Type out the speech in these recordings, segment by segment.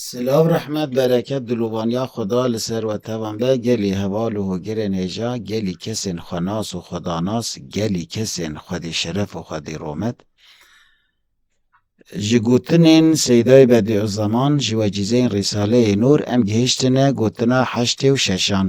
Silav rehmet bereket dilûvaniya Xweda li ser we tevan be gelî heval û hogirên hêja gelî kesên xwenas û xwedanas gelî kesên xwedî şeref û xwedî romet Ji gotinên Seydayê Bedîûzzeman ji wecîzeyên Rîsaleyê Nûr em gihiştine gotina heştê û şeşan.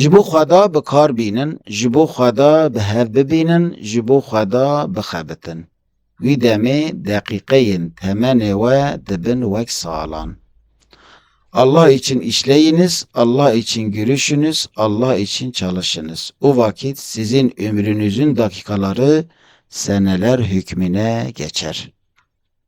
Ji bo xweda bi kar bînin, ji bo xweda bi hev bibînin, ji bo xweda bixebitin. Wî demê deqîqeyên temenê we dibin wek salan. Allah için işleyiniz, Allah için gülüşünüz, Allah için çalışınız. O vakit sizin ömrünüzün dakikaları seneler hükmüne geçer.